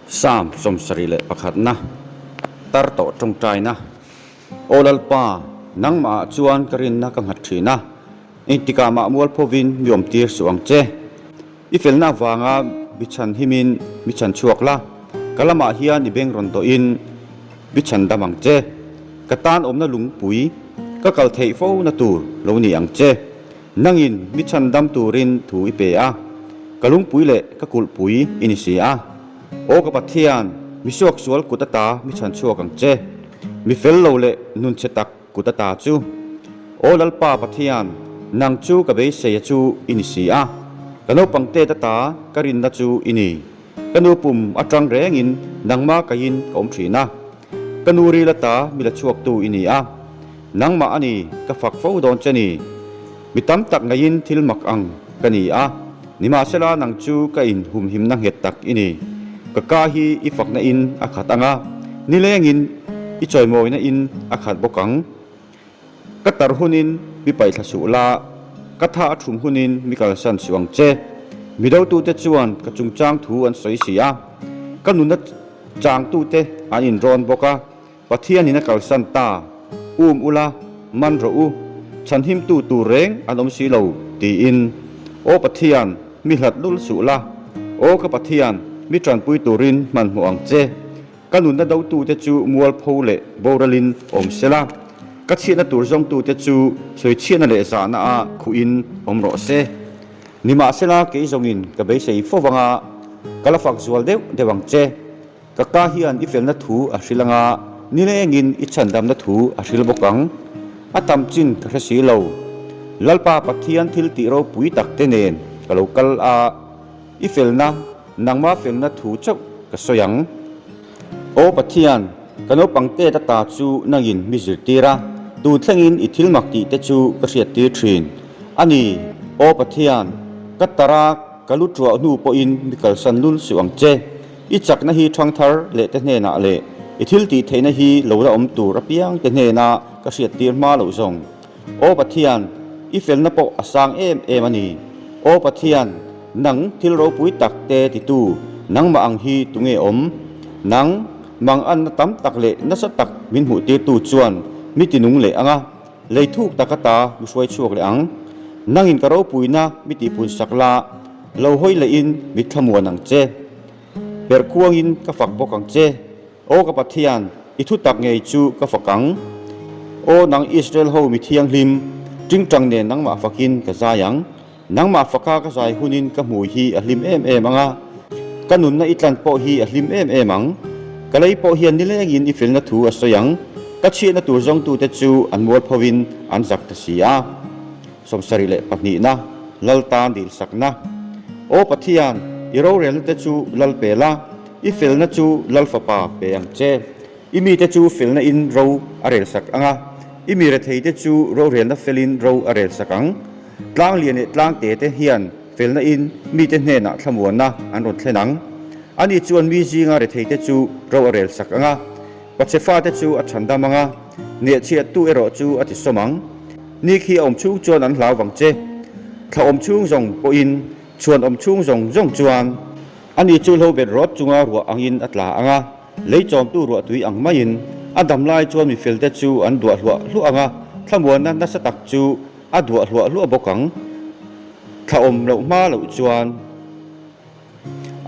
Psalm sawm sarih leh pakhatna, tar tawh tawngtaina. Aw Lalpa, Nangmahah chuan ka rinna ka nghat thin a, engtikah mah mualphovin mi awmtir suh ang che. I felna avanga mi chhan himin mi chhan chhuak la, ka lamah hian i beng rawn dohin mi chhan dam ang che. Ka tan awmna lungpui ka kal theih fona tur lo ni ang che. Nangin ni chhan dam turin thu i pe a, ka lungpui leh ka kulhpui i ni si a. Aw ka Pathian, misuak sual kut ata mi chhan chhuak ang che, mi fel lo leh nun chhe tak kut ata chu. Aw Lalpa Pathian, nang chu ka beiseia chu i ni si a, ka naupang tet ata ka rinna chu i ni. Ka nu pum a ṭang rengin nangma kaihin ka awm ṭhin a, ka nu ri la ta mi la chhuaktu i ni a, nangmah a ni ka fak fo dawn che ni. Mi tam tak ngeiin thil mak ang ka ni a, nimahsela nang chu ka in humhimna nghet tak i ni. Ka ka hi i fakna in a khat ang a, nilengin i chawimawina in a khat bawk ang. Ka tar hunin mi paihthla suh la, ka tha a thum hunin mi kalsan suh ang che. Mi dotute chuan ka chungchang thu an sawi si a, ka nuna changtute an inrawn bawk a, Pathian in a kalsan ta, um u la, man rawh u, chhanhimtu tur reng an awm si lo, tiin. Aw Pathian, mi hlat lul suh la. Aw ka Pathian, mi tanpui turin hmanhmawh ang che. Ka nunna dotute chu mualpho leh boralin awm sela, ka chhiahna tur zawngtute chu sawi chhiahna leh zahna a khuhin awm rawh se. Nimahsela kei zawngin ka beisei fo vang a, ka la fak zual deuh deuh ang che. Ka ka hian i felna thu a hril anga nilengin i chhandamna thu a hril bawk ang. A tam chin ka hre si lo. Lalpa Pathian thiltih ropui takte nen ka lo kal a. I felna, nangma felna thu chauh ka sawi ang. Aw Pathian, ka naupang tet ata chu nangin mi zirtir a, tun thlengin i thil mak tihte chu ka hriattir thin a ni. Aw Pathian, ka tara ka lu ṭuah hnu pawhin mi kalsan lul suh ang che. I chakna hi ṭhangthar lehte hnenah leh i thil tih theihna hi lo la awm tur apiangte hnena ka hriattir hma loh zawng. Aw Pathian, i felna pawh a sang em em a ni. Aw Pathian, nang thil ropui tak te titu nangmah ang hi tunge awm? Nang manganna tam tak leh nasa tak min hmuh tirtu chuan mi tinung leh anga lei thuk tak a ta mi hruai chhuak leh ang. Nangin ka ropuina mi tihpunsak la, lo hawi leh in mi thlamuan ang che. Perh khuangin ka fak bawk ang che. Aw ka Pathian, i thutak ngei chu ka fak ang. Aw nang Israel ho mi thianghlim, tingtang nen nangmah fakin ka zai ang. Nangmah faka ka zai hunin ka hmui hi a hlim em em ang a, ka nunna i tlan pawh hi a hlim em em ang. Ka lei pawh hian nilengin i felna thu a sawi ang, ka chhiahna tur zawngtute chu an mualphovin an zak ta si a. Sawmsarih leh pahnihna, Lalta dilsakna. Aw Pathian, i rorelnate chu lal pela, I felna chu Lal fapa pe ang che. I mite chu felna in ro a rel sak ang a, i mi retheite chu rohrelna felin ro a rel sak ang. Tlanglian leh tlangte te hian felna in mite hnenah thlamuanna an rawn thlen ang. A ni chuan mi zinga retheite chu ro a rel sak ang a, pache fate chu a chhan dam ang a, nehchhiattu erawh chu a ti sawm ang. Ni khi a awm chhung chuan an hlau vang che. Thlahawm chhung zawng pawhin chhuanawm chhung zawng zawng chuan. A ni chu hlo bet rawt chunga ruah angin a tla ang a, lei chawmtu ruah tui ang maiin a dam lai chuan mifelte chu an duah hluah hluah ang a, thlamuanna nasa tak chu a duah hluah hluah bawk ang. Thla awm loh hma loh chuan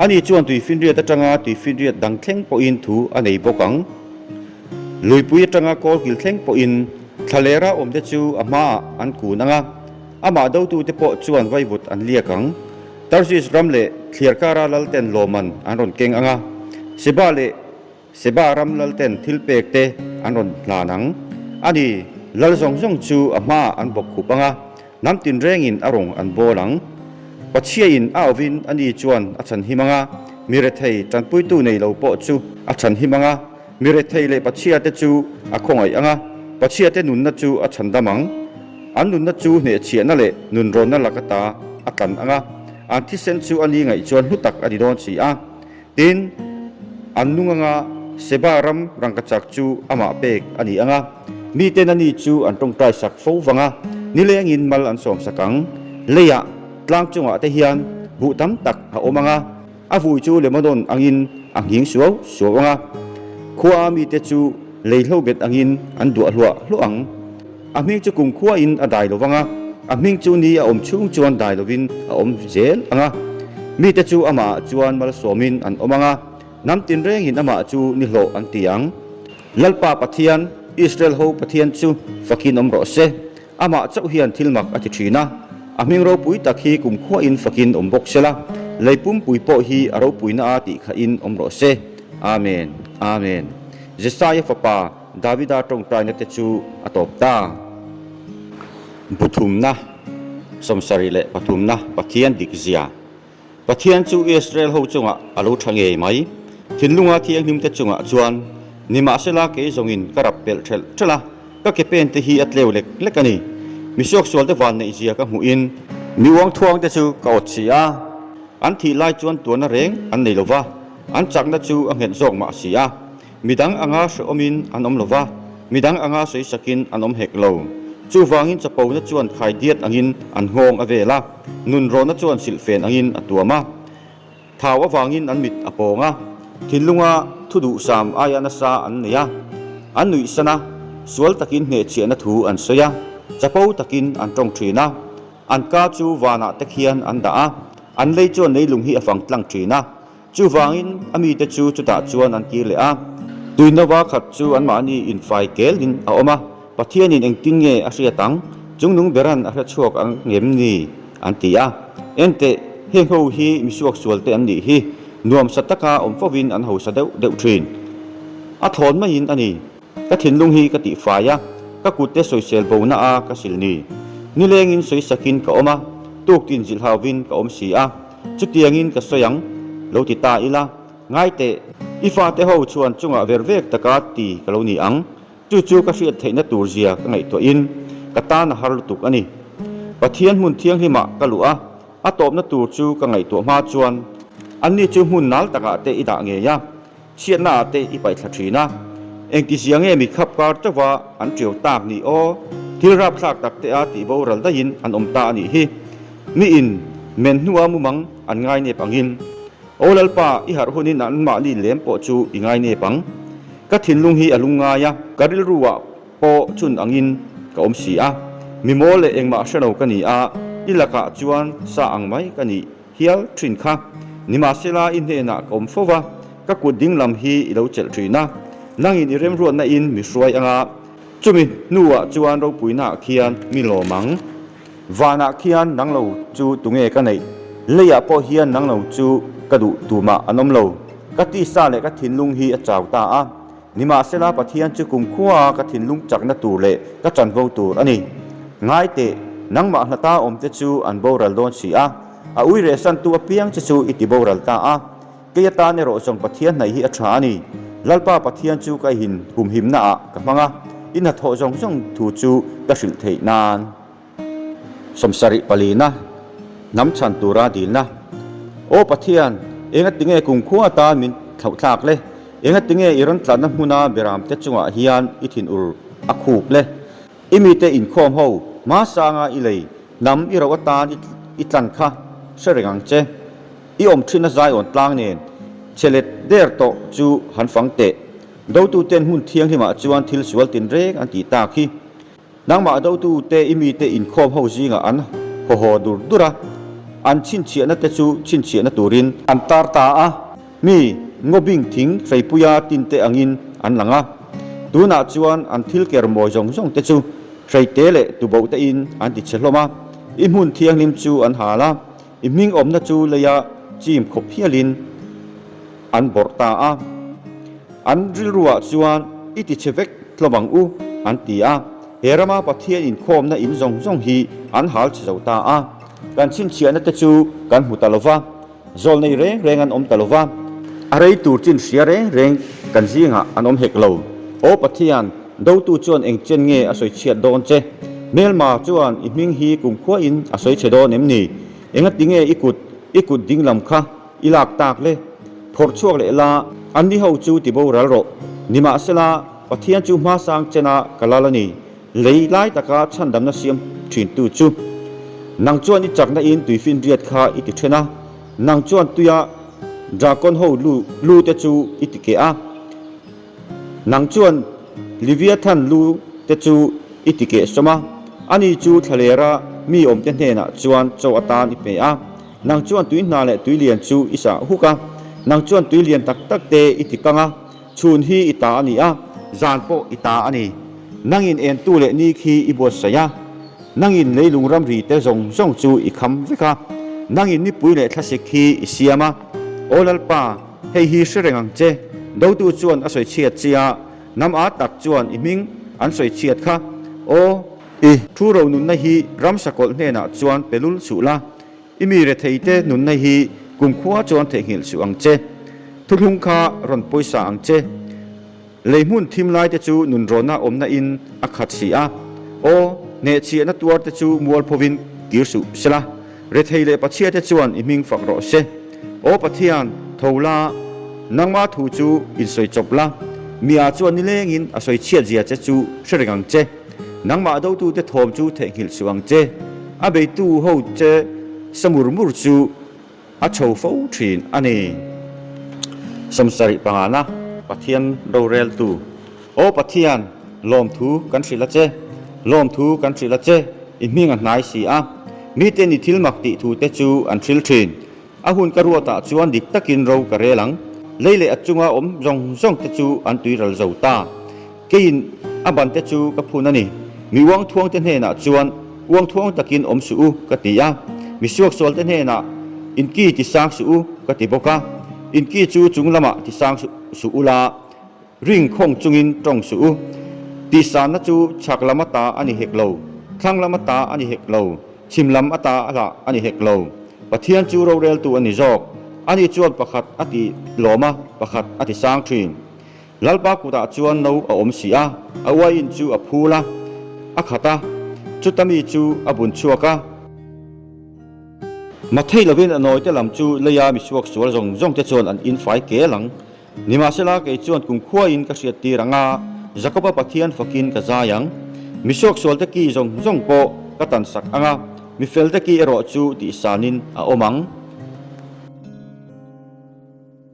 a ni chuan tui finriat atanga tui finriat dang thleng pawhin thu a nei bawk ang. Luipui atanga kawl kil thleng pawhin thla leh ra awmte chu a hmaah an kun ang a, amah dotute pawh chuan vaivut an liak ang. Tarsis ram leh thliar kara lalten lawmman an rawn keng ang a, Seba leh Seba ram lalten thilpek te an rawn hlan ang. A ni, lal zawng zawng chu a hmaah an bawk khup ang a, hnam tinrengin a rawn an bawl ang. Khawchhia in a avin a ni chuan a chhanhim ang a, mi rethei tanpuitu nei lo pawh chu a chhanhim ang a, Mi rethei leh pachhia te chu a khawngaih ang a, pachhia te nunna chu a chhandam ang. An nunna chu hnehchhiahna leh nunrawnna laka ta a tlan ang a, an thisen chu a ni ngaih chuan hlu tak a ni dawn si a. Tin, an nung anga Seba ram rangkachak chu amah pek a ni ang a, mi ten a ni chu an tawngtai sak fo vang a, nilengin mal an sawmsak ang. Leiah, tlang chungah te hian buh tam tak a awm ang a. A vui chu Lebanon angin a nghing suau suau ang a, khuaa mite chu lei hlobet angin an duah hluah hluah ang. A hming chu kum khuain a dai lo vang a, a hming chu ni a awm chhung chuan dai lovin a awm zel ang a. Mite chu amah chuan malsawmin an awm ang a, hnam tinrengin amah chu ni hlawh an ti ang. Lalpa Pathian, Israel ho Pathian chu fakin awm rawh se. Amah chauh hian thil mak a ti thin a, a hming ropui tak hi kumkhuain fakin awm bawk sela, lei pumpui pawh hi a ropuina a tih kha in awm rawh se. Amen. Amen. Jesiah-a fapa Davida tawngtaina te chu a tawp ta. Bu thumna, sawmsarih leh pathumna Pathian dikzia. Pathian chu Israel ho chungah a lo tha ngei mai. Thinlunga thianghlimte chungah chuan, Nimahsela kei zawngin ka rap pelh ṭhelh ṭhelh a, ka ke pente hi a tleu lek lek a ni. Misuak sualte vanneihzia ka hmuhin, mi uangthuangte chu ka awt si a, an thih lai chuan tuanna reng an nei lo va, an chakna chu a nghet zawk mah si a. Midang anga hre awmin an awm lo va, midang anga sawi sakin an awm hek lo. Chuvangin chapona chuan khai diat angin an nghawng a vel a, nun rawna chuan silhfen angin a tuam a. Thau avangin an mit a pawng a, thinlunga thu duhsam aia nasa an nei a, an nuihsan a, sual takin hnehchhiahna thu an sawi a, chapo takin an tawng thin a, an ka chu vanah te khian an dah a, an lei chuan leilung hi a fang tlang thin a, Chuvangin a mite chu chutah chuan an kir leh a, tuinlo va khat chu anmahni infai kel in a awm a, Pathianin engtin nge a hriat ang? Chungnung beran a hre chhuak ang ngem ni? an ti a. Enteh, heng ho hi misuak sualte an nih hi, nuam sa taka awm fovin an hausa deuh deuh thin. A thlawn maiin a ni. Ka thinlung hi ka tih fai a, ka kutte sawisel bo na a ka sil ni. Nilengin sawisakin ka awm a, tuk tinzilh hauhin ka awm si a, chutiangin ka sawi ang, lo ti ta ila, ngai teh, i fate ho chuan chungah ver vek taka ti ka lo ni ang, chu chu ka hriat theih na tur zia ka ngaihtuahin ka tan a har lutuk a ni. Pathian hmun thianghlimah ka luh a, a tawpna tur chu ka ngaihtuah hma chuan anni chu hmun nal takah teh i dah ngei a, Chhiatna a te i paihthla thin a, engtizi ang nge mi khap kar chauha an tio tak ni aw, thil rapthlak tak te a tih boral daihin an awm ta a nih hi. Mi in men hnua mumang an ngainep angin, aw Lalpa i harh hunin an mahni lem pawh chu i ngainep ang. Ka thinlung hi a lung ngai a, ka rilru ah pawh chun angin ka awm si a, mi maw leh engmah hreno ka ni a, i lakah chuan sa ang mai ka ni. hial thin kha. Nimahsela i hnenah ka awm fo va, ka kut ding lam hi i lo chelh thin a, nangin i remruat nain mi hruai anga. Chumi hnuah chuan ropuinah khian mi lawm ang. Vanah khian nang lo chu tunge ka neih? Leiah pawh hian nang lo chu ka duh tumah an awm lo. Ka tisa leh ka thinlung hi a chau ta a, Nimahsela Pathian chu kum khua ka thinlung chakna tur leh ka chanvo tur a ni. Ngaiteh, nangmah hna ta awmte chu an boral dawn si a, a ui rehsantu a piang che chu i ti boral ta a. Kei atan erawh zawng Pathian hnaih hi a tha a ni. Lalpa Pathian chu ka ihin humhimnaah ka hmang a, i hnathawh zawng zawng thu chu ka hrilh theih nan. Sawmsarih palina hnam chhan tura dilna. Aw Pathian, engatinge kung khua tan min thlauh thlak le? Engatinge i rawn tlanna hmuna biramte chungah hian i thinur a khup le? I mite inkhawm ho, hmasanga i lei hnam i rauh atan i tlan kha hre reng ang che. I awm thin a Zion tlang nen che let der tawh chu han fang teh. Dotuten hmun thianghlimah chuan thil sual tinreng an tih tak hi. Nangmah dotu te i mite inkhawm ho zingah an haw haw dur dur a, an chhinchhiahna te chu chhinchhiahna turin an tar ta a, mi ngawbing thing hreipuia tin te angin an lang a, tunah chuan an thil ker mawi zawng zawng te chu hreite leh tuboh tein an tichhe hlawm a, i hmun thianghlim chu an hal a, I hming awmna chu leia chim khawp hialin an bawrh ta a, an rilruah chuan i ti chhe vek hlawm ang u an ti a, he rama Pathian inkhawmna in zawng zawng hi an hal chhe zo ta a, kan chhinchhiahna te chu kan hmu ta lo va, zawl nei reng reng an awm ta lo va, a rei tur chinhria reng reng kan zingah an awm hek lo, Aw Pathian Dotu chuan eng chen nge a sawi chhiat dawn che? Hmelma chuan i hming hi kum khuain a sawi che dawn em ni? Engatinge i kut i kut ding lam kha i lak tak le? Phawrh chhuak leh la, an ni ho chu ti boral rawh. Nimahsela, Pathian chu hmasang chena ka lal a ni. Lei lai taka chhandamna siam thintu chu nang chuan i chakna in tui finriat kha i ti then a, nang chuan tuia dragon ho lu lute chu i ti keh a. Nang chuan Liviathan lu te chu i ti keh sawm a, ani chu thlelera mi awmte hnenah chuan chaw atan i pe a, nang chuan tui hna leh tui lian chu i sah huk a, nang chuan tui lian tak tak te i ti kang a, chhun hi i ta a ni a, zan pawh i ta a ni, nangin entu leh ni khi i buatsaih a, nangin leilung ramri te zawng zawng chu i kham vek a, nangin nipui leh thlasik khi i siam a, Aw Lalpa, Hei hi hre reng ang che. Dotu chuan a sawi chhiat chi a, hnam a tak chuan i hming an sawi chhiat kha. Aw. I thu ro nunna hi Ramsa kawlh hnenah chuan pe lul suh la. I mi retheite nunna hi kumkhua chuan theihnghilh suh ang che. Thuthlung kha rawn pawisa ang che. Leihmun thim laite chu nun rawna awmna in a khat si a, aw hneh chiahna tuar te chu mual pho in kir suh se la, re thei leh pachhia te chuan i hming fak rawh se. Aw Pathian, tho la, nangma thu chu in sawi chawp la, mi ah chuan ni leng in a sawi chhiat zia che chu hre reng ang che. Nangmah do tu te thawm chu theihnghilh suh ang che. A bei tu ho che sa mur mur chu. A tho fo thin a ni. Som sarih pangana Pathian roreltu, O Pathian, lawmthu kan hrilh a che, lawmthu kan hrilh a che, i hming a hnai si a. Miten i thil mak tih thute chu an hril thin. A hun ka ruat ah chuan dik takin ro ka rel ang. Lei leh a chunga awm zawng zawng te chu an tui ral zo ta. Keiin a bante chu ka phun a ni. Mi uangthuangte hnenah chuan uangthuang takin awm suh u ka ti a, mi suaksualte hnenah in ki ti sang suh u ka ti bawk a. In ki chu chung lamah ti sang suh u la, ring khawng chungin tawng suh u. Tihsanna chu chhak lam ata a ni hek lo, thlang lam ata a ni hek lo, chhim lam ata alah a ni hek lo. Pathian chu roreltu a ni zawk. Ani chuan pakhat a ti lawm a, pakhat a ti sang thin. Lalpa kutah chuan no a awm si a, a uaiin chu a phul a, a khat a, chuta mi chu a bun chhuak a. Matheih lovin a nawite lam chu leia misuak sual zawng zawng te chuan an infai kel ang. Nimahsela kei chuan kungkhuaiin ka hriat tir ang a, Jakoba Pathian fakin ka zai ang. Misuak sual te ki zawng zawng pawh ka tansak ang a, mi fel te ki erawh chu tihsanin a awm ang.